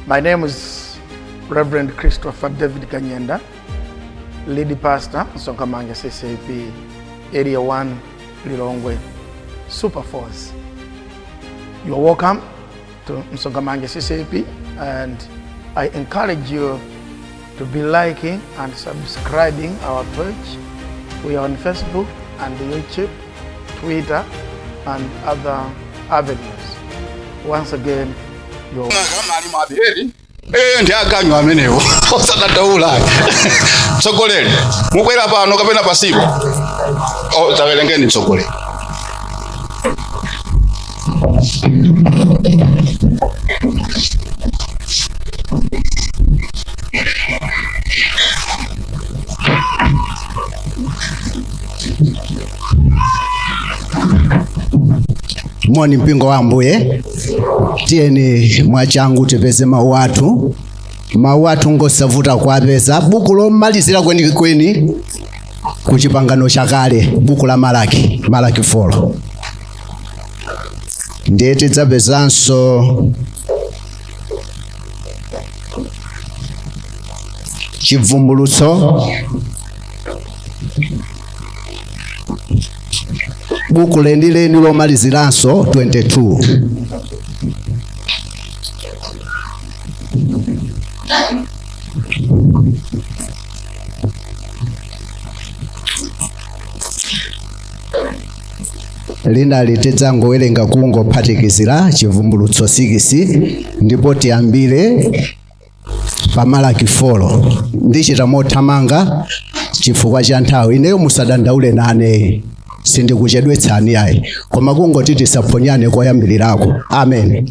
My name is Reverend Christopher David Kanyenda, lead pastor, Sonkamanga CCP, Area 1, Lilongwe, Super Force. You are welcome to Msongamanga CCP and I encourage you to be liking and subscribing our page. We are on Facebook and YouTube, Twitter, and other avenues. Once again, your Eh, ndi aganyu amenewo osakataula tsogoleri mukwere pano kapena pasipo oh, tawerengeni tsogoleri moni mpingo wa ambuye tiyeni mwachangu tipeze mawu athu mawu athu ngosavuta kuwapeza buku lomalizira kwenikweni ku chipangano chakale buku la malaki malaki 4 ndiye tidzapezanso chivumbulutso buku lenileni lomaliziranso 22 Thank you. linalo tidzangowerenga kungophatikizira chivumbulutso 6 ndipo tiyambire pa malaki 4 ndichita mothamanga chifukwa cha nthawi ineyo musadandaule nane sindikuchedwetsani ayi koma kungoti tisaphonyane koyambirirako amen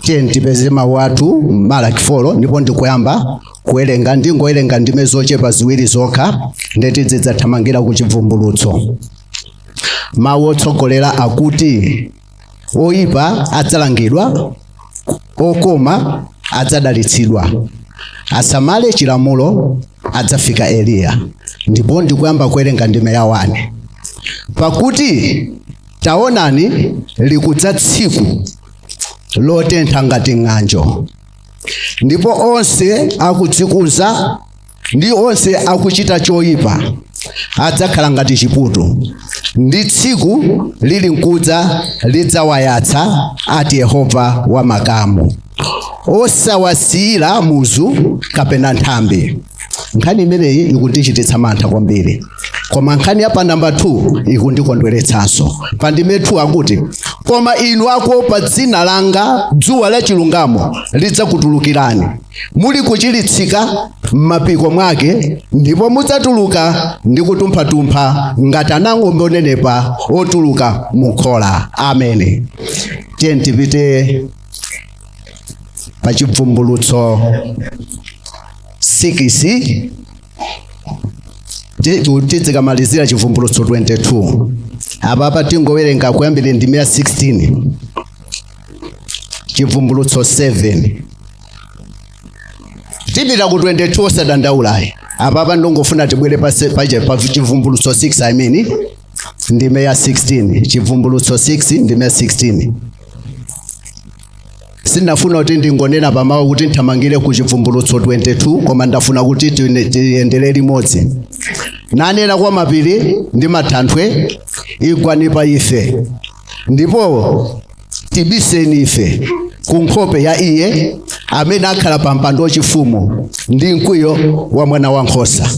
tiyeni tipeze mawu athu malaki 4 ndipo ndikuyamba kuwerenga ndingowerenga ndime zochepa ziwiri zokha nde tizidzathamangira ku chivumbulutso mawu otsogolera akuti oyipa adzalangidwa okoma adzadalitsidwa asamale chilamulo adzafika eliya ndipo ndikuyamba kuwerenga ndime ya wani pakuti taonani likudza tsiku lotentha ngati ng'anjo ndipo onse akudzikuza ndi onse akuchita choyipa adzakhala ngati chiputu ndi tsiku lili nkudza lidzawayatsa ati yehova wa makamu osawasiyira muzu kapena nthambi nkhani imeneyi ikundichititsa mantha kwambiri koma nkhani ya pa namba 2 ikundikondweretsanso pa ndime 2 akuti koma inu akuopa dzina langa dzuwa la chilungamo lidzakutulukirani muli kuchiritsika m'mapiko mwake ndipo mudzatuluka ndi kutumphatumpha ngati anang'ombe onenepa otuluka mukhola amen tiyeni tipite pa chivumbulutso 6 tidzikamalizira chibvumbulutso 22 apapa tingowerenga kuyambira ndime ya 16 chivumbulutso 7 tipita ku 22 osadandaulayi apapa ndongofuna tibwere pa se- pa che- pa chivumbulutso 6 i mean ndime ya 16 chivumbulutso 6 ndime ya 16 sindinafuna kuti ndingonena pamawu kuti nthamangire ku chivumbulutso 22 koma ndafuna kuti tine- tiyendere limodzi nanena kwa mapiri ndi matanthwe igwani pa ife ndipo tibiseni ife ku nkhope ya iye amene akhala pa mpando wachifumu ndi mkwiyo wa mwana wa nkhosa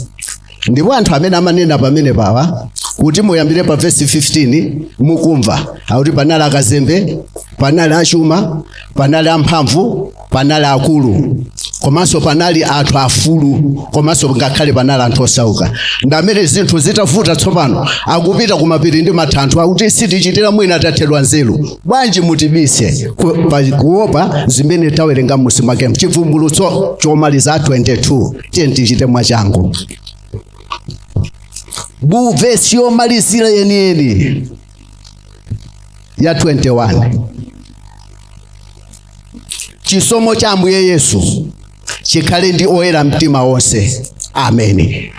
ndipo anthu amene amanena pamenepa awa kuti muyambire pa vesi 15 mukumva akuti panali akazembe panali achuma panali amphamvu panali akulu komanso panali anthu afulu komanso ngakhale panali anthu osauka ndamene zinthu zitavuta tsopano akupita kumapiri ndi matanthwe akuti sitichitira mwina tathedwa nzeru bwanji mutibise ku- pa- kuopa zimene tawerenga mmusi mwake chivumbulutso chomaliza 22 tiyeni tichite mwachangu bu vesi yomalizira yeniyeni ya 21 chisomo cha ambuye yesu chikhale ndi oyera mtima onse ameni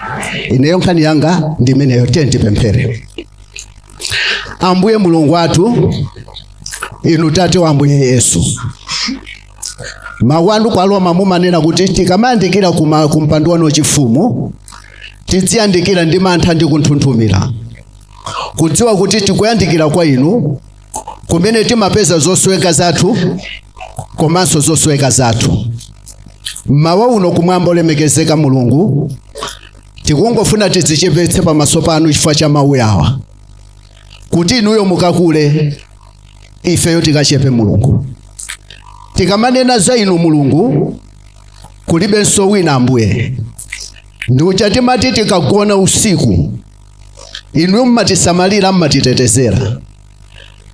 ineyo nkhani yanga ndi imeneyo tiyeni tipemphere ambuye mulungu wathu inu tate wa ambuye yesu mawu anu kwa roma mumanena kuti tikamayandikira kuma- ku mpando wanu wachifumu tidziyandikira ndi mantha ndi kunthunthumira kudziwa kuti tikuyandikira kwa inu kumene timapeza zosoweka zathu komanso zosoweka zathu mmawa uno kumwamba olemekezeka mulungu tikungofuna tidzichepetse pamaso panu chifukwa cha mawu awa kuti inuyo mukakule ifeyo tikachepe mulungu tikamanena za inu mulungu kulibenso wina ambuye ndiucha timati tikagona usiku inuyo mmatisamalira mmatitetezera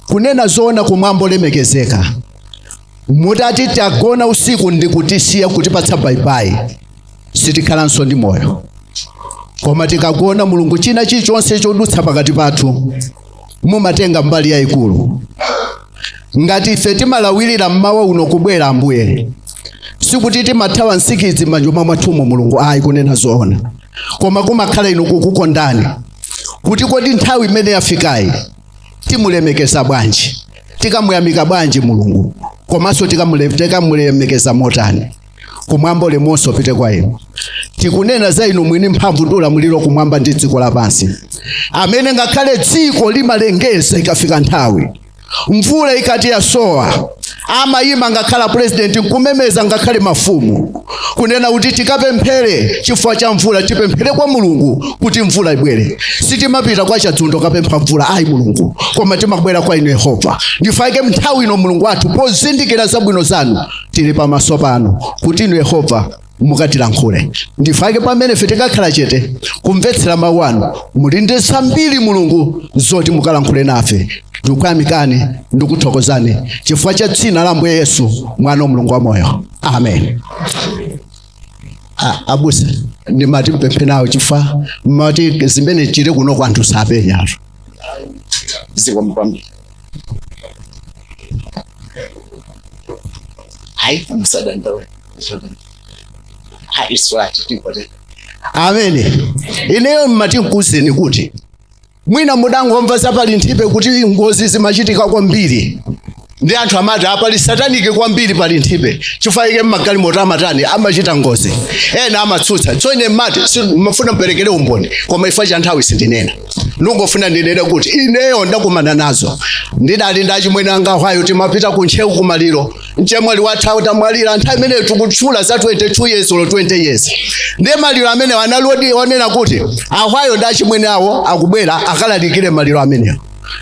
kunena zoona kumwamba olemekezeka mutati tagona usiku ndi kutisiya kutipatsa bayibayi sitikhalanso ndi moyo koma tikagona mulungu china chilichonse chodutsa pakati pathu mumatenga mbali yayikulu ngati ife timalawirira mmawa uno kubwera ambuye sikuti timathawa nsikidzi m'manyumba mwathumo mulungu ayi kunena zoona koma kumakhala inu kukukondani kuti kodi nthawi imene yafikayi timulemekeza bwanji tikamuyamika bwanji mulungu komanso tikamulemekeza motani kumwamba ulemu onse upite kwa inu tikunena za inu mwini mphamvu ndi ulamuliro kumwamba ndi dziko lapansi amene ngakhale dziko limalengeza ikafika nthawi mvula ikati yasowa amayima ngakhale purezidenti nkumemeza ngakhale mafumu kunena kuti tikapemphere chifukwa cha mvula tipemphere kwa mulungu kuti mvula ibwere sitimapita kwa chadzundo kukapempha mvula ayi mulungu koma timabwera kwa inu yehova ndi chifukwa chake nthawi ino mulungu wathu pozindikira zabwino zanu tili pamaso panu kuti inu yehova mukatilankhule ndi chifukwa chake pamene ife tikakhala chete kumvetsera mawu anu muli ndi zambiri mulungu zoti mukalankhule nafe ndikuyamikani ndikuthokozani chifukwa cha dzina la ambuye yesu mwana wa mulungu wa moyo amen Ah, abusa ndimati mpempheko nawo chifukwa mmati zimene zili kuno kwa anthu sapenyatu zikomo kwambiri ayi musadandaule amen ineyo mmati nkuuzeni kuti mwina mudangomva za pa linthipe kuti ngozi zimachitika kwambiri ndi anthu amati pali satanic kwambiri pa linthipe chifukwa chake mmagalimoto amatani amachita ngozi ena amatsutsa tsono ine mmati mmafuna mperekere umboni koma chifukwa cha nthawi sindinena ndingofuna ndinene kuti ineyo ndakumana nazo ndidali ndachimwene anga hwayo timapita ku ntcheu kumaliro mchemwali wathu atamwalira nthawi imeneyo tikutchula za 22 years olo 20 years ndiye maliro amenewo analidi onena kuti ahwayo ndi achimwene awo akubwera akalalikire maliro amenewo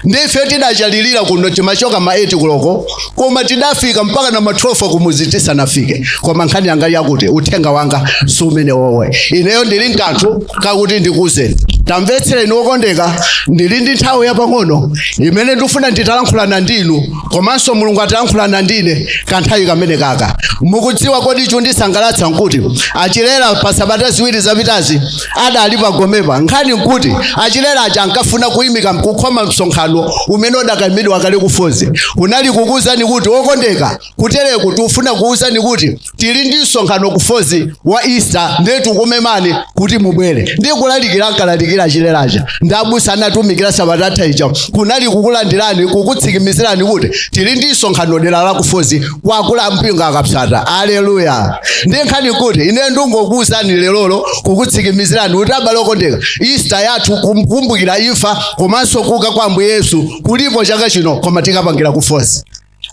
ndife tidacherera kuno timachoka ma 8 kuloko koma tidafika mpaka na ma 12 kumuzi tisanafike koma nkhani yanga yakuti uthenga wanga si umenewo ineyo ndili nkanthu kakuti ndikuuzeni tamvetserani okondeka ndili ndi nthawi yapang'ono imene ndifuna nditalankhulana ndinu komanso mulungu atayankhulana ndine kanthawi kameneka mukudziwa kodi chondisangalatsa nkuti achilera pa sabata ziwiri zapitazi adali pagomepa nkhani nkuti achilera aja ankafuna kuyimika kukhoma msonkhano umene udakaimidwa kale kufozi kunali kukuwuzani kuti okondeka kutereku tikufuna kuwuzani kuti tili ndi msonkhano ku fozi wa easter ndiye tikumemani kuti mubwere ndiye kulalikira ankalalikira achileraja ndi abusa anatumikira sabatata ija kunali kukulandirani kukutsikimizirani kuti tili ndi msonkhano dera la ku fozi kwakula mpingo akapsata aleluya ndiye nkhani kuti ine ndingokuwuzani lerolo kukutsikimizirani kuti abale okondeka easter yathu kumkumbukira imfa komanso kuuka kwa ambuye yesu kulipo chaka chino koma tikapangira ku fozi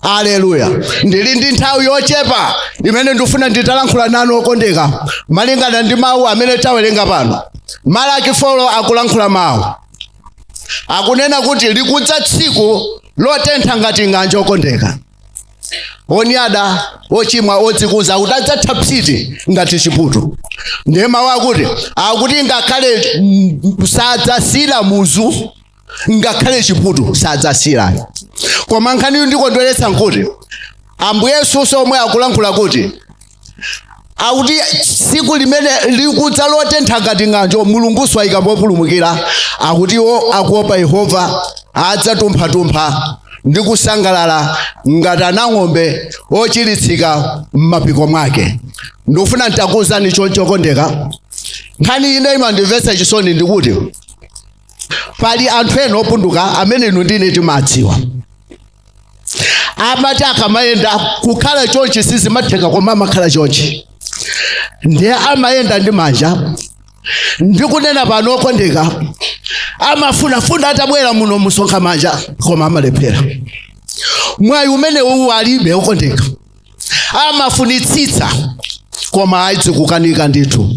haleluya ndili ndi nthawi yochepa imene ndifuna nditalankhula nanu okondeka malingana ndi mawu amene tawerenga pano malaki 4 akulankhula mawu akunena kuti likudza tsiku lotentha ngati ng'anjo okondeka onyada ochimwa odzikuza akuti adzatha psiti ngati chiputu ndiye mawu akuti akuti ngakhale mm, sadzasiyira muzu ngakhale chiputu sadzasiyira koma nkhani yondikondweretsa nkuti ambuye yesunso omwe akulankhula kuti akuti tsiku limene likudza lotentha ngati ng'anjo mulungunso waika populumukira akuti iwo akuopa yehova adzatumphatumpha ndi kusangalala ngati ana ang'ombe ochiritsika m'mapiko mwake ndikufuna ntakuwuzani choncho okondeka nkhani ine imandimvetsa chisoni ndikuti pali anthu ena opunduka amene inu ndine timadziwa amati akamayenda kukhala chonchi sizimatheka koma amakhala chonchi ndiye amayenda ndi manja ndikunena pano okondeka amafunafuna atabwera muno m'msonkha manja koma amalephera mwayi umene uwu alibe okondeka amafunitsitsa koma izi zikukanika ndithu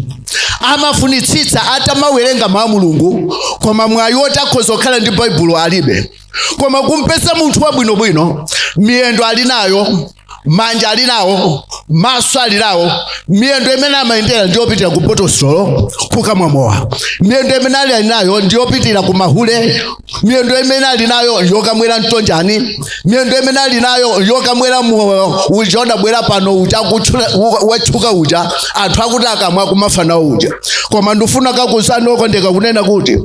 amafunitsitsa atamawerenga mawu a mulungu koma mwayi woti akhoza kukhala ndi baibulo alibe koma kumpeza munthu wabwinobwino miyendo ali nayo manja ali nawo maso ali nawo miyendo imene amayendera ndiyopitira ku bottle store kukamwa mowa miyendo imene ali ali nayo ndiyopitira ku mahule miyendo imene ali nayo yokamwera mtonjani miyendo imene ali nayo yokamwera mowa uja wabwera pano uja watchuka uja anthu akuti akamwa akumafa nawo uja koma ndifuna ndikakuwuzani okondeka kunena kuti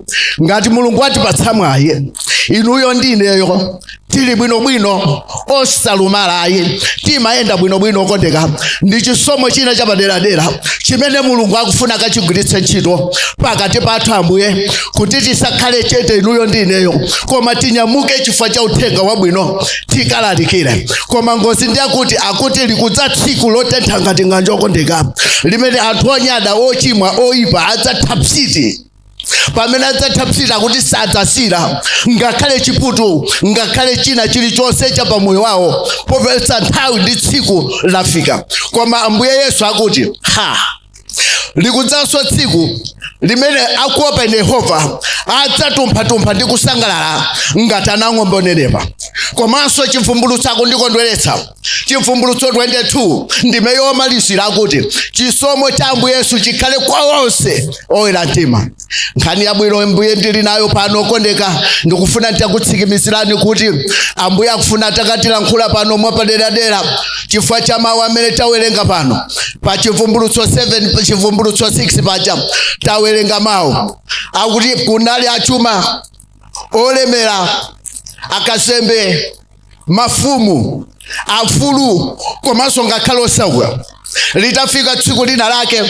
ngati mulungu watipatsa mwayi inuyo ndi ineyo tili bwinobwino osalumala ayi timayenda bwinobwino okondeka ndi chisomo china chapaderadera chimene mulungu akufuna akachigwiritse ntchito pakati pathu ambuye kuti tisakhale chete inuyo ndi ineyo koma tinyamuke chifukwa cha uthenga wabwino tikalalikire koma ngozi ndi akuti akuti likudza tsiku lotentha ngati ng'anjo okondeka limene anthu onyada ochimwa oyipa adzatha psiti pamene adzathapsita kuti sadzasira ngakhale chiputu ngakhale china chilichonse cha pamoyo wawo popeza nthawi ndi tsiku lafika koma ambuye yesu akuti ha likudzanso tsiku limene akuopa ine yehova adzatumphatumpha ndi kusangalala ngati anang'ombe onenepa komanso chivumbulutso akundikondweretsa chivumbulutso 22 ndime yomalizira akuti chisomo cha ambuye yesu chikhale kwa onse oyera mtima nkhani yabwino mbuye ndili nayo pano okondeka ndikufuna nditakutsikimizirani kuti ambuye akufuna atakatilankhula pano mwapaderadera chifukwa cha mawu amene tawerenga pano pa chivumbulutso 7 chivumbulutso 6 paja tawerenga mawu akuti kunali achuma olemera akasembe mafumu afulu komanso ngakhale osauka litafika tsiku lina lake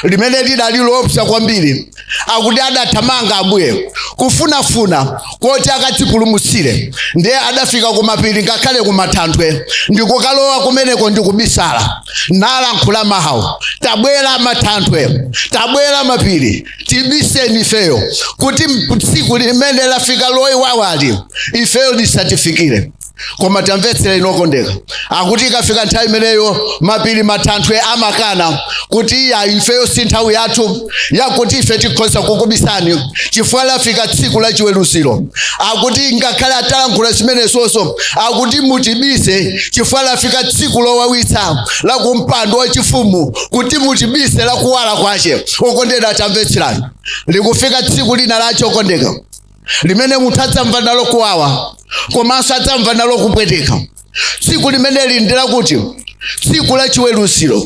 limene lidali loopsa kwambiri akuti adathamanga ambuye kufunafuna koti akadzipulumutsire ndiye adafika kumapiri ngakhale kumathanthwe ndikukalowa kumeneko ndikubisala nalankhula mawu tabwera mathanthwe tabwera mapiri tibiseni ifeyo kuti tsiku limene lafika lowawali ifeyo lisatifikire koma tamvetsera inu okondeka akuti ikafika nthawi imeneyo mapiri mathanthwe amakana kuti iyayi ifeyo si nthawi yathu yakuti ife tikhoza kukubisani chifukwa lafika tsiku la chiweruziro akuti ngakhale atalankhula zimenezozo akuti mutibise chifukwa lafika tsiku lowawitsa la kumpando wachifumu kuti mutibise lakuwala kwake okondeka tamvetserani likufika tsiku lina lake okondeka limene munthu adzamva nalo kuwawa komanso adzamva nalo kupweteka tsiku limeneli ndi lakuti tsiku la chiweruziro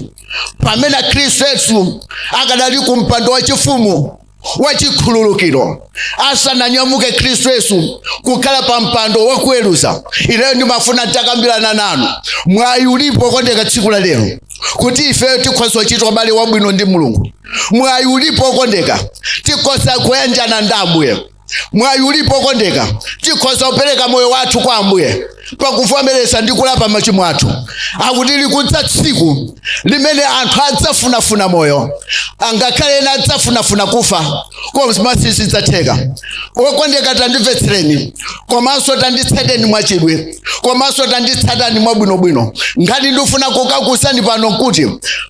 pamene khristu yesu akadali ku mpando wachifumu wachikhululukiro asananyamuke khristu yesu kukhala pa mpando wakuweruza ineyo ndimafuna nditakambirana nanu mwayi ulipo okondeka tsiku la lero kuti ifeyo tikhoza kuchita ubale wabwino ndi mulungu mwayi ulipo okondeka tikhoza kuyanjana ndi ambuye mwayi ulipo okondeka tikhoza kupereka moyo wathu kwa ambuye pakuvomereza ndi kulapa machimo athu akuti likudza tsiku limene anthu adzafunafuna moyo angakhale ena adzafunafuna kufa koma sizidzatheka okondeka tandimvetsereni komanso tanditsateni mwachidwi komanso tanditsatani mwabwinobwino ngati ndifuna kukuuzani pano kuti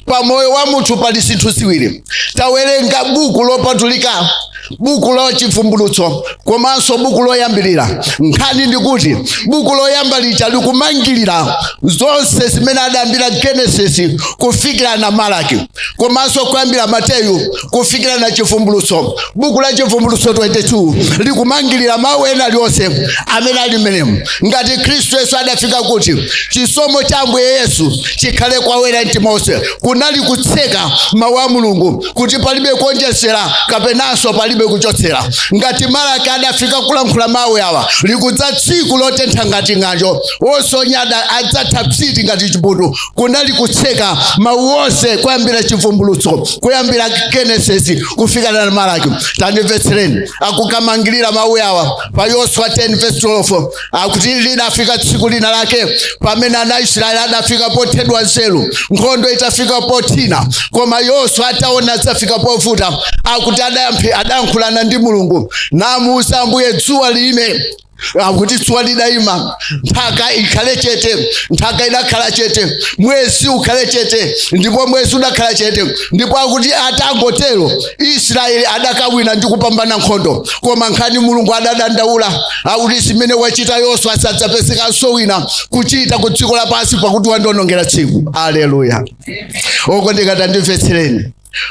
pa moyo wa munthu pali zinthu ziwiri tawerenga buku lopatulika buku la chivumbulutso komanso buku loyambirira nkhani ndikuti buku loyamba lija likumangirira zonse zimene adayambira genesis kufikira na malaki komanso kuyambira mateyu kufikira na chivumbulutso buku la chivumbulutso 22 likumangirira mawu ena alionse amene ali mmenemo ngati khristu yesu adafika kuti chisomo cha ambuye yesu chikhale kwa oyera mtima onse kunali kutseka mawu a mulungu kuti palibe kuonjezera kapenanso palibe kuchotsera ngati malaki adafika kulankhula mawu awa likudza tsiku lotentha ngati ng'anjo ose onyada adzatha psiti ngati chiputu kunali kutseka mawu onse kuyambira chivumbulutso kuyambira genesis kufika na malaki tandimvetsereni akukamangirira mawu awa pa yoswa 10:12 akuti lidafika tsiku lina lake pamene ana aisraeli adafika pothedwa nzeru nkhondo itafika pothina koma yoswa ataona zafika povuta akuti adayankhulana ndi mulungu namuuza ambuye dzuwa lime akuti dzuwa lidayima nthaka ikhale chete nthaka idakhala chete mwezi ukhale chete ndipo mwezi udakhala chete ndipo akuti atangotero israeli adakawina ndi kupambana nkhondo koma nkhani mulungu adadandaula akuti zimene wachita yoswa sadzapezekanso wina kuchita ku dziko lapansi pakuti wandionongera tsiku aleluya okondeka tandimvetsereni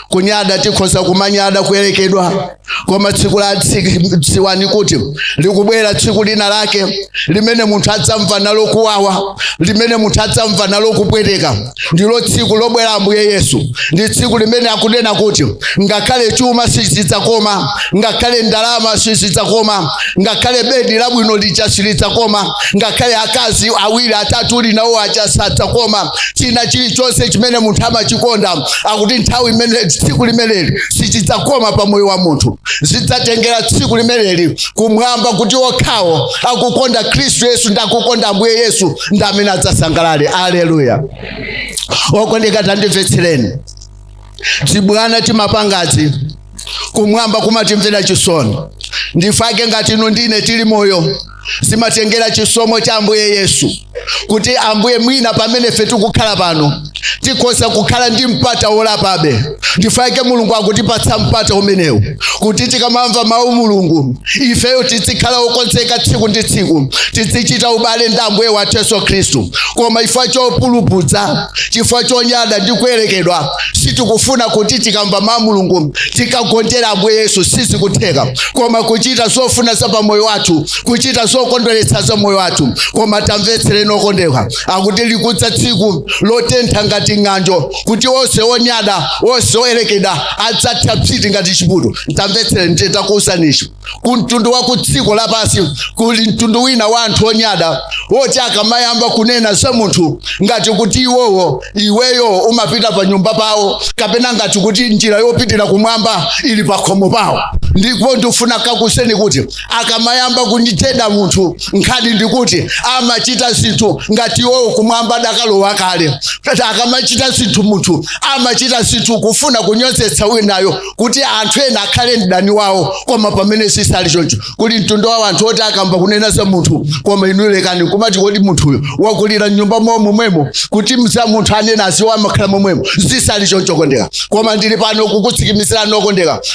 kunyada tikhoza kumanyada kuyerekedwa koma tsiku la tsi- dziwani kuti likubwera tsiku lina lake limene munthu adzamva nalo kuwawa limene munthu adzamva nalo kupweteka ndilo tsiku lobwera ambuye yesu ndi tsiku limene akunena kuti ngakhale chuma sichidzakoma ngakhale ndalama sizidzakoma ngakhale bedi labwino lija silidzakoma ngakhale akazi awiri atatu uli nawo aja sadzakoma china chilichonse chimene munthu amachikonda akuti nthawi imene tsiku limeneli sichidzakoma pa moyo wa munthu zidzatengera tsiku limeneli kumwamba kuti okhawo akukonda khristu yesu ndi akukonda ambuye yesu ndi amene adzasangalale aleluya okondeka tandimvetsereni tibwana timapangazi kumwamba kumatimvera chisoni ndifake ngati inu ndine tili moyo zimatengera chisomo cha ambuye yesu kuti ambuye mwina pamene ife tikukhala pano tikhoza kukhala ndi mpata wolapabe ndifake mulungu akutipatsa mpata umenewu kuti tikamamva mawu a mulungu ifeyo tizikhala okonzeka tsiku ndi tsiku tizichita ubale ndi ambuye wathu yesu khristu koma chifukwa chopulupudza chifukwa chonyada ndi kuyerekedwa sitikufuna kuti tikamva mawu a mulungu tikagonjere ambuye yesu sizikutheka koma kuchita zofuna za pamoyo wathu kuchita zokondweretsa za moyo wathu koma tamvetsereni okondeka akuti likudza tsiku lotentha ngati ng'anjo kuti onse onyada onse oyerekeda adzatha psiti ngati chiputu tamvetsereni ndiye ndakuwuzani chi ku mtundu wa ku dziko lapansi kuli mtundu wina wa anthu onyada woti akamayamba kunena za munthu ngati kuti iwowo iweyo umapita pa nyumba pawo kapena ngati kuti njira yopitira kumwamba ili pakhomo pawo ndipo ndifuna ndikuuzeni kuti akamayamba kunditcheda munthu nkhani ndikuti amachita zinthu ngati iwowo kumwamba adakalowa kale akamachita zinthu munthu amachita zinthu kufuna kunyozetsa winayo kuti anthu ena akhale mdani wawo koma pamene zisali choncho kuli mtundu wa anthu oti akayamba kunena za munthu koma inu lekani kumati kodi munthuyo wakulira mnyumba mwawo momwemo kuti za munthu anena aziwa amakhala momwemo zisali choncho okondeka koma ndili pano kukutsikimizirani okondeka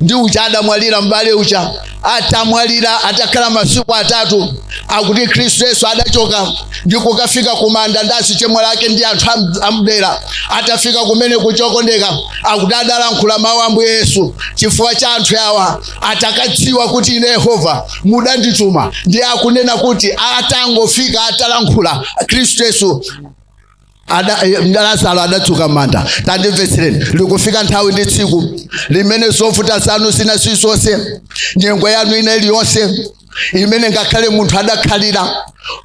ndi uja adamwalira m'bale uja atamwalira atakhala masiku atatu akuti khristu yesu adachoka ndi kukafika kumanda ndi azichemwali ake ndi anthu am- amdera atafika kumene kuja okondeka akuti adalankhula mawu ambuye yesu chifukwa cha anthu awa atakadziwa kuti ine yehova mudandituma ndiye akunena kuti atangofika atalankhula khristu yesu Ada- eh, lazaro adadzuka m'manda tandimvetsereni likufika nthawi ndi tsiku limene zovuta zanu zina zizonse nyengo yanu ina iliyonse imene ngakhale munthu adakhalira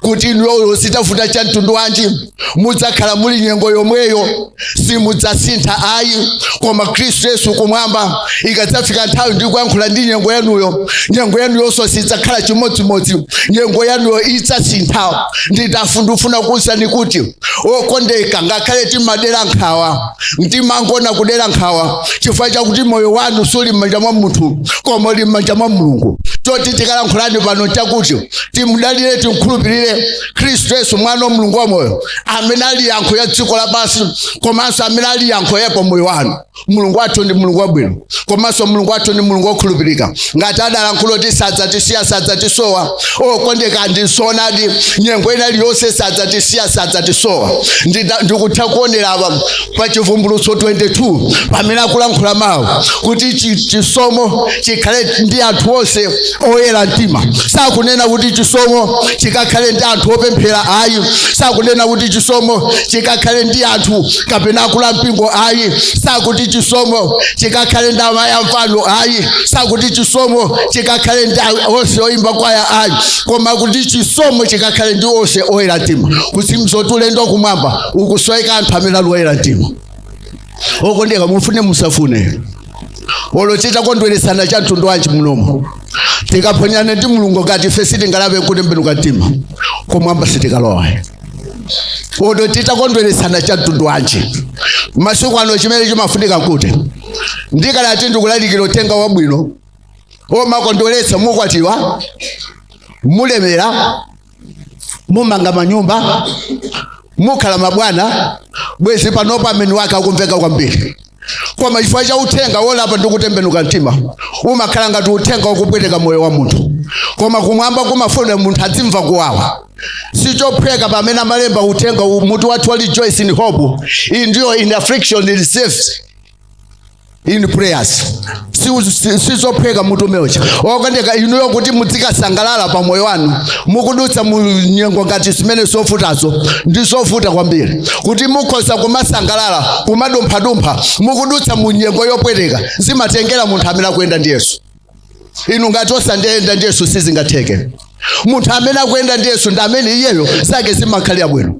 kuti inuyo zitavuta cha mtundu wanji mudzakhala m'nyengo yomweyo simudzasintha ayi koma khristu yesu kumwamba ikadzafika nthawi ndi kuyankhula ndi nyengo yanuyo nyengo yanuyonso sidzakhala chimodzimodzi nyengo yanuyo idzasintha ndikufuna kuwuzani kuti okondeka ngakhale timadera nkhawa timangoona kudera nkhawa chifukwa chakuti moyo wanu suli m'manja mwa munthu koma uli m'manja mwa mulungu choti tikalankhulani pano chakuti timudalire timkhulupirire khristu yesu mwana wa mulungu wamoyo amene ali yankho la dziko lapansi komanso amene ali yankho la pa moyo wanu mulungu wathu ndi mulungu wabwino komanso mulungu wathu ndi mulungu wokhulupirika ngati adalankhula kuti sadzatisiya sadzatisowa okondeka ndi zoonadi nyengo ina iliyonse sadzatisiya sadzatisowa Ndida- ndikutha kuonera apa pa chivumbulutso 22 pamene akulankhula mawu kuti chi- chisomo chikhale ndi anthu onse oyera mtima sakunena kuti chisomo chikakhale ndi anthu opemphera ayi sakunena kuti chisomo chikakhale ndi anthu kapena akulu ampingo ayi sakuti chisomo chikakhale ndi amayi amvano ayi sakuti chisomo chikakhale ndi onse oyimba kwaya ayi koma kuti chisomo chikakhale ndi onse oyera mtima kuti mzoti ulendo wa kumwamba ukusoweka anthu amene ali oyera mtima okondeka mufune musafune olo titakondweresana cha mtundu wanji munomo tikaphonyana ndi mulungu ngati ife sitingalape nkutembenuka mtima kumwamba sitikalowa olo titakondweresana cha mtundu wanji masiku ano chimene chimafunika nkuti ndikadati ndikulalikira uthenga wabwino omakondweretsa mukwatiwa mulemera mumanga manyumba mukhala mabwana bwezi panopo ameni wake akumveka kwambiri koma chifukwa cha uthenga wolapa ndi kutembenuka mtima umakhala ngati uthenga wakupweteka moyo wa munthu koma kumwamba kumafuna munthu adzimva kuwawa sichophweka pamene amalemba uthenga uwu, mutu wathu wa rejoice in hope endure in affliction persevere in prayers Si- si- sizophweka mutu umeocha okondeka inuyo kuti mudzikasangalala pa moyo wanu mukudutsa mu nyengo ngati zimene zovutazo ndi zovuta kwambiri kuti mukhoza kumasangalala kumadumphadumpha mukudutsa mu nyengo yopweteka zimatengera munthu amene akuyenda ndi yesu inu ngati simuyenda ndi yesu sizingatheke munthu amene akuyenda ndi yesu ndi amene iyeyo zake zimakhala zili bwino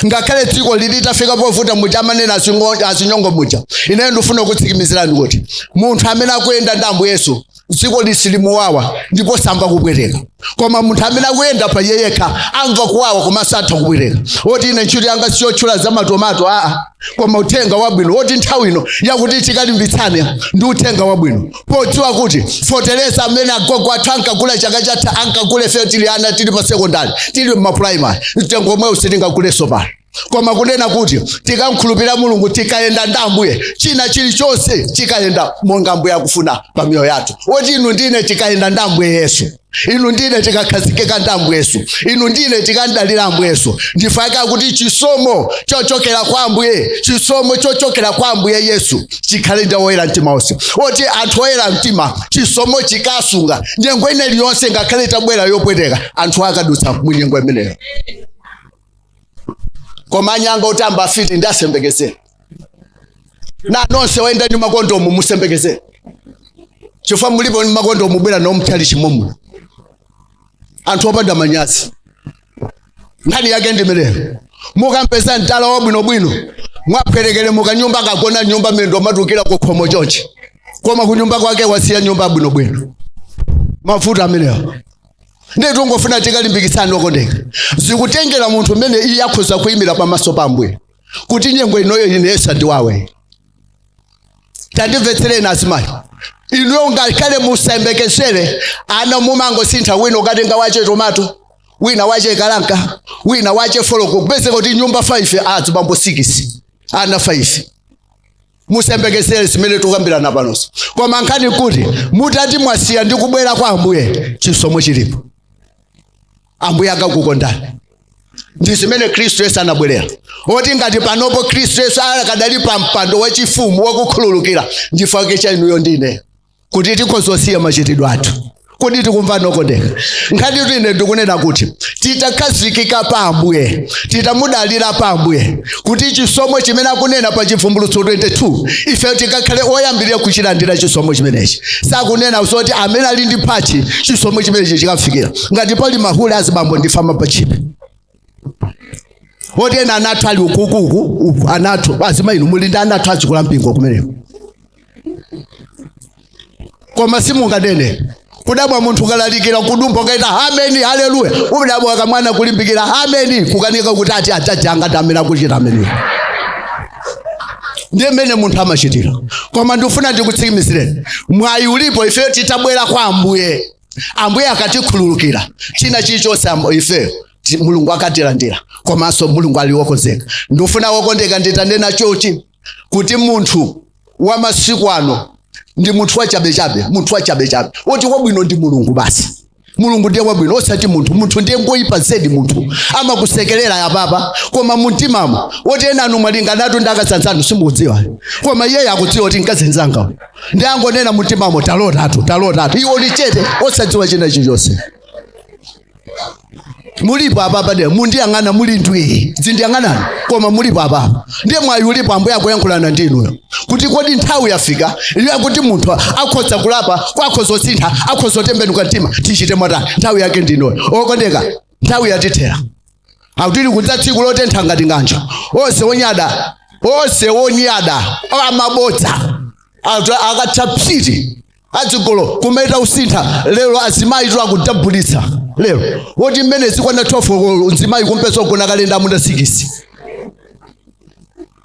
ngakhale dziko litafika povuta muja amanena azingo- azinyongo muja ineyo ndifuna kutsikimizirani kuti munthu amene akuyenda ndi ambuye yesu dziko silimuwawa ndipo samva kupweteka koma munthu amene akuyenda pa iye yekha amva kuwawa komanso amva kupweteka oti ine ntchito yanga siyotchula za matomato aa koma uthenga wabwino woti nthawi ino yakuti tikalimbitsane ndi uthenga wabwino podziwa kuti fetereza amene agogo athu ankagula chaka chatha ankagula ifeyo tili ana tili mmasekondari tili mmapuraimari mtengo omwewu sitingagulenso pano koma kunena kuti tikamkhulupirira mulungu tikayenda ndi ambuye china chilichonse chikayenda monga ambuye akufuna pa miyoyo yathu woti inu ndine tikayenda ndi ambuye yesu inu ndine tikakhazikika ndi ambuye yesu inu ndine tikamdalira ambuye yesu nchifukwa chake akuti chisomo chochokera kwa ambuye chisomo chochokera kwa ambuye yesu chikhale ndi oyera mtima onse oti anthu oyera mtima chisomo chikawasunga nyengo ina iliyonse ngakhale itabwera yopweteka anthu akadutsa mu nyengo imeneyo koma anyanga otamba afiti ndi asayembekeze na nonse wayenda ndi makondomu musayembekeze chifukwa mulipo ndi makondomu mwabwera nawo mchalichi momo anthu opanda manyazi nkhani yake ndimeneyo mukampeza mtala wabwinobwino mwapwerekere mukanyumba kagona nyumba mendo matukira kukhomo chonchi koma kunyumba kwake wasiya nyumba yabwinobwino mavuto amenewo ndiye tingofuna tikulimbikitseni okondeka zikutengera munthu mmene iye akhoza kuyimira pamaso pa ambuye kuti nyengo inoyo ine isandiwawe tandimvetsereni azimayi inuyo ngakhale musayembekezere ana mumangosintha wina mukatenga wache tomato wina wache kalanka wina wache foloko kupezeka kuti nyumba 5 azibambo 6 ana 5 musayembekezere zimene tikukambirana panoso koma nkhani kuti mutati mwasiya ndi kubwerera kwa ambuye chisomo chilipo ambuye akakukondani ndi zimene khristu yesu anabwerera oti ngati panopo khristu yesu akadali pa mpando wachifumu wakukhululukira ndi chifukwa chake cha inuyo ndi ineyo kuti tikhoza kusiya machitidwe athu kodi tikumvana okondeka nkhani kuti ine ndikunena kuti titakhazikika pa ambuye titamudalira pa ambuye kuti chisomo chimene akunena pa chivumbulutso 22 ife tikakhale oyambirira kuchilandira chisomo chimenechi sakunena zoti amene ali ndi tchalitchi chisomo chimenechi chikamfikira ngati pali mahule azibambo ndi mafama pachipe oti ena anathu ali ukukuku anathu azimayi inu muli ndi anathu achikula mpingo kumeneko koma simunganene kudabwa munthu akalalikira kudumpa kuchita ameni haleluya udabwa kamwana kulimbikira ameni kukanika kuti ati ajaji angati amene akuchita ameni ndiye mmene munthu amachitira koma ndikufuna ndikutsimikizireni mwayi ulipo ifeyo titabwera kwa ambuye ambuye akatikhululukira china chilichonse am- ifeyo ti- mulungu akatilandira komanso mulungu ali wokonzeka ndifuna wokondeka nditanena choti kuti munthu wa masiku ano ndi munthu wachabechabe munthu wachabechabe woti wabwino ndi mulungu basi mulungu ndiye wabwino osati munthu munthu ndiye ngoyipa zedi munthu amakusekerera apapa koma mumtimamo woti enanu mwalingana ndakasanzanu simukudziwa koma iyeyo akudziwa kuti nkazenzanga ndiye angonena mumtimamo talotatu talotatu iwo ali chete osadziwa china chilichonse mulipo apa padera mundiyang'ana muli ndwii zindiyang'anani koma mulipo apa ndiye mwayi ulipo ambuye akuyankhulana ndi inuyo kuti kodi nthawi yafika iyo kuti munthu akhoza kulapa kwa akhoza kusintha akhoza kutembenuka mtima tichite motani nthawi yake ndi inoyo okondeka nthawi yatithera akuti likudza tsiku lotentha ngati ng'anjo onse onyada onse onyada amabodza Atu- akatha psiti azigololo kumeta kusintha lero azimayitu akudabulitsa lero woti mmene zikwana 12 mzimayi kumpeza wagona kalenda amuna sikisi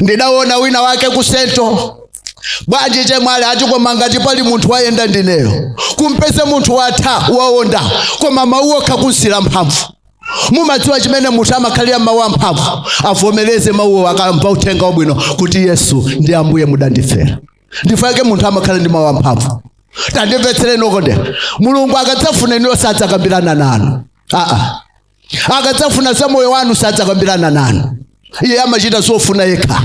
ndidawona wina wake ku sento bwanji achemwali ati koma ngati pali munthu wayenda ndineyo kumpeza munthu watha waonda koma mawu okha kumveka mphamvu mumadziwa chimene munthu amakhalira mawu amphamvu avomereze mawuwo akamva uthenga wabwino kuti yesu ndi ambuye mudandifera ndi chifukwa chake munthu amakhala ndi mawu amphamvu tandimvetsereni okondeka mulungu akadzafuna inuyo sadzakambirana nanu aa akadzafuna za moyo wanu sadzakambirana nanu iye amachita zofuna yekha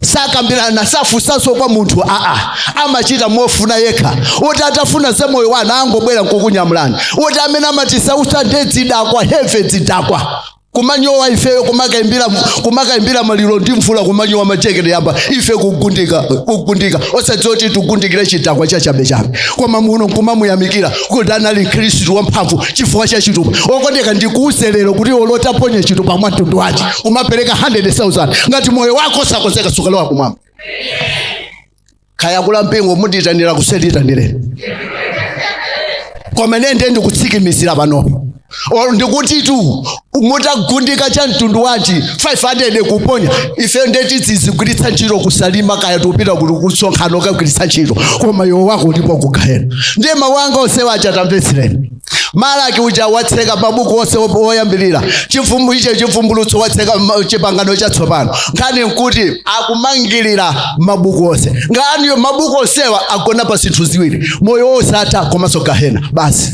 sakambirana safunsanso kwa munthu aa amachita mofuna yekha woti atafuna za moyo wanu angobwera nkukunyamulani woti amene amatisautsa nde zidakwa heve zidakwa kumanyowa ifeyo kumakaimbira kumakaimbira maliro ndi mvula kumanyowa macheke ayamba ife kugundika kugundika osadziwa kuti tigundikira chidakwa cha chabechabe koma muno nkumamuyamikira kuti anali mkhristu wamphamvu chifukwa cha chitupa okondeka ndikuuze lero kuti olo utaponya chitupa mwa mtundu wanji umapereka 100,000 ngati moyo wako sunakonzeke sukalowa kumwamba kaya akulu a mpingo mundiitanira ku session itanireni koma nende ndikutsikimizira panopo ndikutitu mutagundika cha mtundu wanji 500 kuponya ife ndiye tizigwiritsa ntchito ku Salima kaya tikupita kuti kusonkhano kukagwiritsa ntchito koma moyo wako uli ku gahena ndiye mawu anga onsewa tamvetsereni malaki uja watseka mabuku onse op- oyambirira icho chivumbulutso watseka ma- chipangano chatsopano nkhani nkuti akumangirira mabuku onse nkhaniyo mabuku onsewa agona pa zinthu ziwiri moyo wosatha komanso gahena basi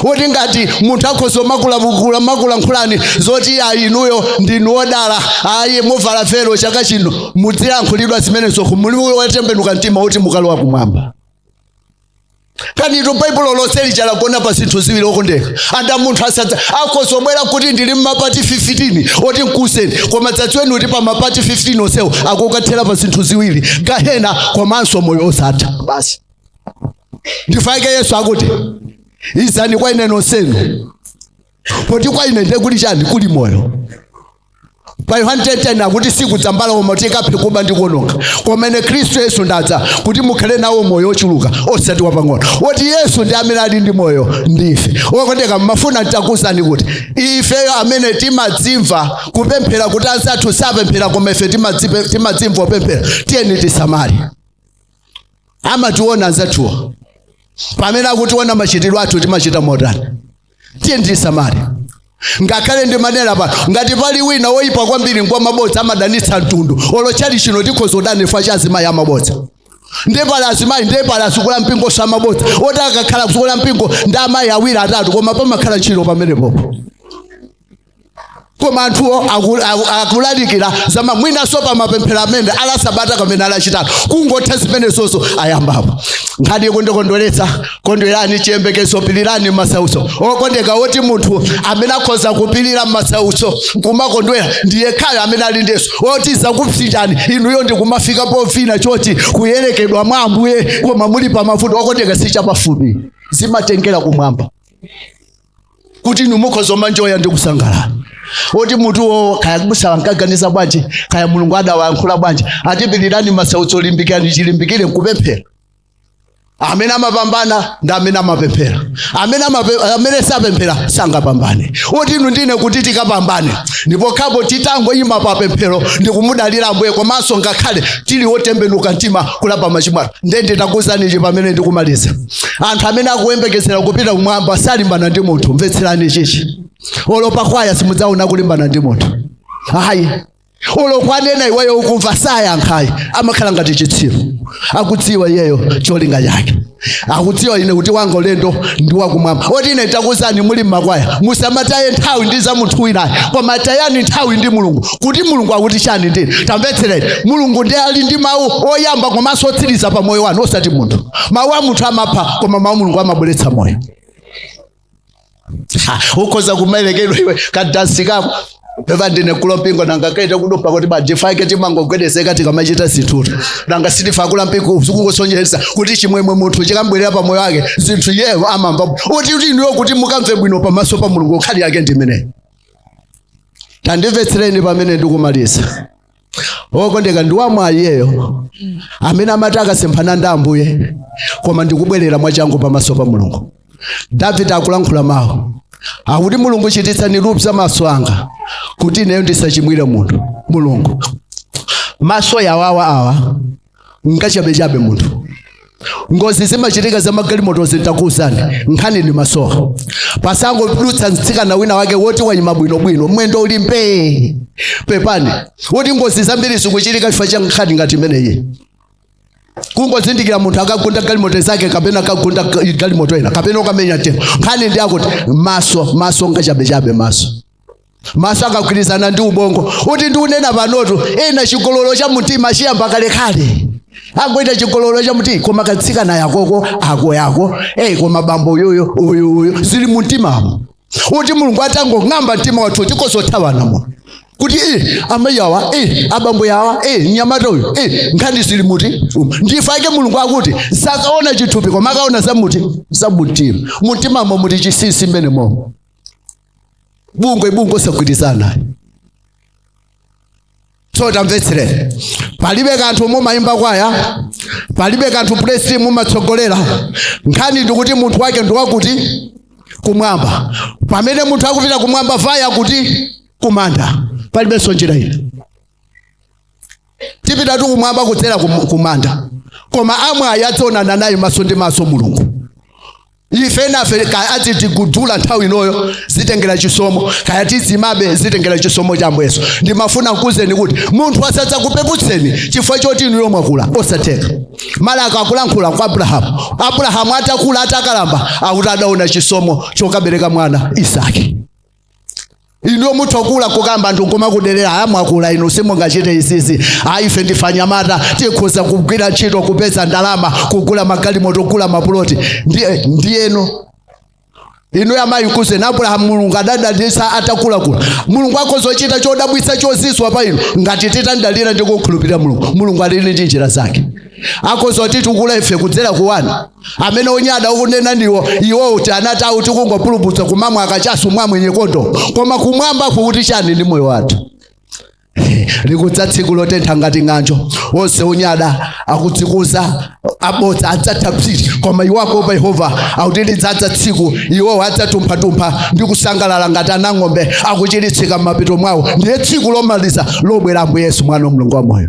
woti ngati munthu akhoza kumakulankhulani zoti ayi inuyo ndinu odala ayi muvala velo chaka chino mudzilankhulidwa zimenezo kumuliuyo watembenuka mtima woti mukalowa kumwamba koma nditu baibulo lonse lija lagona pa zinthu ziwiri okondeka anda munthu asadza akhoza obwera kuti ndili mmapati 15 oti nkuseni koma mudzadziwe kuti pa mapati 15 onsewo akukathera pa zinthu ziwiri gahena komanso moyo osatha basi ndi chifukwa chake yesu akuti izani kwa ine nonsenu poti kwa ine ndiye kuli chani kuli moyo pa yohani 10:10 akuti sikudza mbala koma kuti ikaphe kuba ndi kuononga koma ine khristu yesu ndadza kuti mukhale nawo moyo ochuluka osati wapang'ono woti yesu ndi amene ali ndi moyo ndiye okondeka mmafuna ntakuuzani kuti ifeyo amene timadzimva kupemphera kuti anzathu sapemphera koma ife timadzipe- timadzimva kupemphera tiyeni tisamale amationa anzathuwa pamene akutiona machitidwe athu timachita motani tiyeni tisamale ngakhale ndimanena pano ngati pali wina woyipa kwambiri ngwa mabodza amadanitsa mtundu olo tchalitchi chino tikhoza kudana chifukwa cha azimayi amabodza ndiye pali azimayi ndiye pali azikulu a mpingonso amabodza oti akakhala azikulu a mpingo ndi amayi awiri atatu koma pamakhala ntchito pamenepopo koma anthuwo aku- aku- akulalikira zama mwinanso pa mapemphero amene a Lasabata kapena a Lachitatu kungotha zimenezozo ayambapo nkhani ikundikondweretsa kondwerani m'chiyembekezo pilirani m'masautso okondeka woti munthu amene akhoza kupilira m'masautso kumakondwera ndi yekhayo amene ali ndi yesu oti zakupsinjani inuyo ndikumafika povina chotikuyembekezera mwa ambuye koma muli pa mavuto okondeka si chapafupi zimatengera kumwamba kuti inu mukhoza kumanjoya ndi kusangalala oti mutuwo kaya abusa ankaganiza bwanji kaya mulungu adawayankhula bwanji atipirirani masautso limbikirani chilimbikire nkupemphera amene amapambana ndi amene amapemphera amene, amape, amene sapemphera sangapambane oti inu ndine kuti tikapambane ndi pokhapo titangoyima pa pemphero ndi kumudalira ambuye komanso ngakhale tili wotembenuka mtima kulapa machimo athu ndende takuuzani ichi pamene ndikumaliza anthu amene akuyembekezera kupita kumwamba salimbana ndi munthu mvetserani chichi olo pakwaya simudzaona kulimbana ndi munthu ayi olo kwanena iweyo ukumva sayankhayi amakhala ngati chitsiru akudziwa iyeyo cholinga chake akudziwa ine kuti wanga ulendo ndi wakumwamba oti ine takuuzani muli mmakwaya musamataye nthawi ndi za munthu winayo koma tayani nthawi ndi mulungu kuti mulungu akuti chani ndine tamvetsereni mulungu ndiye ali ndi mawu oyamba komanso otsiriza pa moyo wanu osati munthu mawu a munthu amapha koma mawu a mulungu amabweretsa moyo Ha, ukhoza kumayerekedwa iwe kadansi kako peva ndine kulompingo nanga kaite kutopa kuti ba ndifake timangogwedezeka tikamachita zinthuto nanga sitifa kula mpingo zikungosonyeza kuti chimwemwe munthu chikambwerera pa moyo wake zinthu iyeyo amamva uti uti ndiye kuti mukamve bwino pamaso pa mulungu nkhani yake ndimeneyo tandimvetsereni pamene ndikumaliza okondeka ndi wamwayi iyeyo amene amati akasemphana ndi ambuye koma ndikubwerera mwachangu pamaso pa mulungu davide akulankhula mawu akuti mulungu chititsani lupsa maso anga kuti ineyo ndisachimwire munthu mulungu maso yawawa awa ngachabechabe munthu ngozi zimachitika za magalimoto nditakuuzani nkhani ndi maso kapasangodutsa mtsikana wina wake woti wanyima bwinobwino mwendo uli mbee pepani woti ngozi zambiri zikuchitika chifukwa cha nkhani ngati imeneyi kungozindikira munthu akagunda galimoto zake kapena akagunda ga- galimoto ina kapena ukamenya tengo nkhani ndi akuti maso maso ngachabechabe maso maso akagwirizana ndi ubongo uti ndikunena panotu ena chigololo cha mtima chinayamba kalekale angochita chigololo cha mtima koma katsikana yakoko ako yako eyi koma bambo uyuyu uyu uyu zili mu mtimamo uti mulungu atangong'amba mtima wathu tikhoza kuthawanamo kuti e amayi yawa e abambo yawa e mnyamata uyu e nkhani zili muti umu. ndifa ake mulungu akuti sakaona chithupi koma akaona zamuti zamumtima mumtimamo muti chisisi mmenemomo bungwe bungwe osagwirizana naye so tamvetsere palibe kanthu mumayimba kwaya palibe kanthu praise team mumatsogolera nkhani ndikuti munthu wake ndi wakuti kumwamba pamene munthu akupita kumwamba vaya kuti kumanda palibenso njira ina tipitatu kumwamba kudzera kum- kumanda koma amwayi adzaonana naye maso ndi maso mulungu ife nafe kaya atidula nthawi inoyo zitengera chisomo kaya tidzimabe zitengera chisomo cha ambuye yesu ndimafuna nkuuzeni kuti munthu asadzakupeputseni chifukwa choti inuyo mwakula osatheka Malaki akulankhula za abrahamu abrahamu atakula atakalamba akuti adaona chisomo chokabereka mwana isaki inuyo mutha kula akukamba anthu omakudelerani mwakula inu simungachite izizi ayi ife ndife anyamata tikhoza kugwira ntchito kupeza ndalama kugula magalimoto kugula mapuloti ndiye ndiyeno inuyo muwauze abrahamu mulungu adadalitsa atakula mulungu akhoza kuchita chodabwitsa chozizwitsa pa inu ngati titamdalira ndi kumkhulupirira mulungu mulungu ali ndi njira zake akhoza kutitukula ife kudzera ku ana amene onyada akunena ndiwo iwowo ati ana athu tikungopulupudza kumamwa kachasu mwa mwenye kondo koma kumwambaku kukuti chani ndi moyo wathu likudza tsiku lotentha ngati ng'anjo onse onyada akudzikuza abodza adzatha psiti koma iwo akuopa Yehova akuti lidzadza tsiku iwowo adzatumphatumpha ndi kusangalala ngati ana ang'ombe akuchiritsika m'mapiko mwawo ndiye tsiku lomaliza lobwera ambuye yesu mwana wa mulungu wamoyo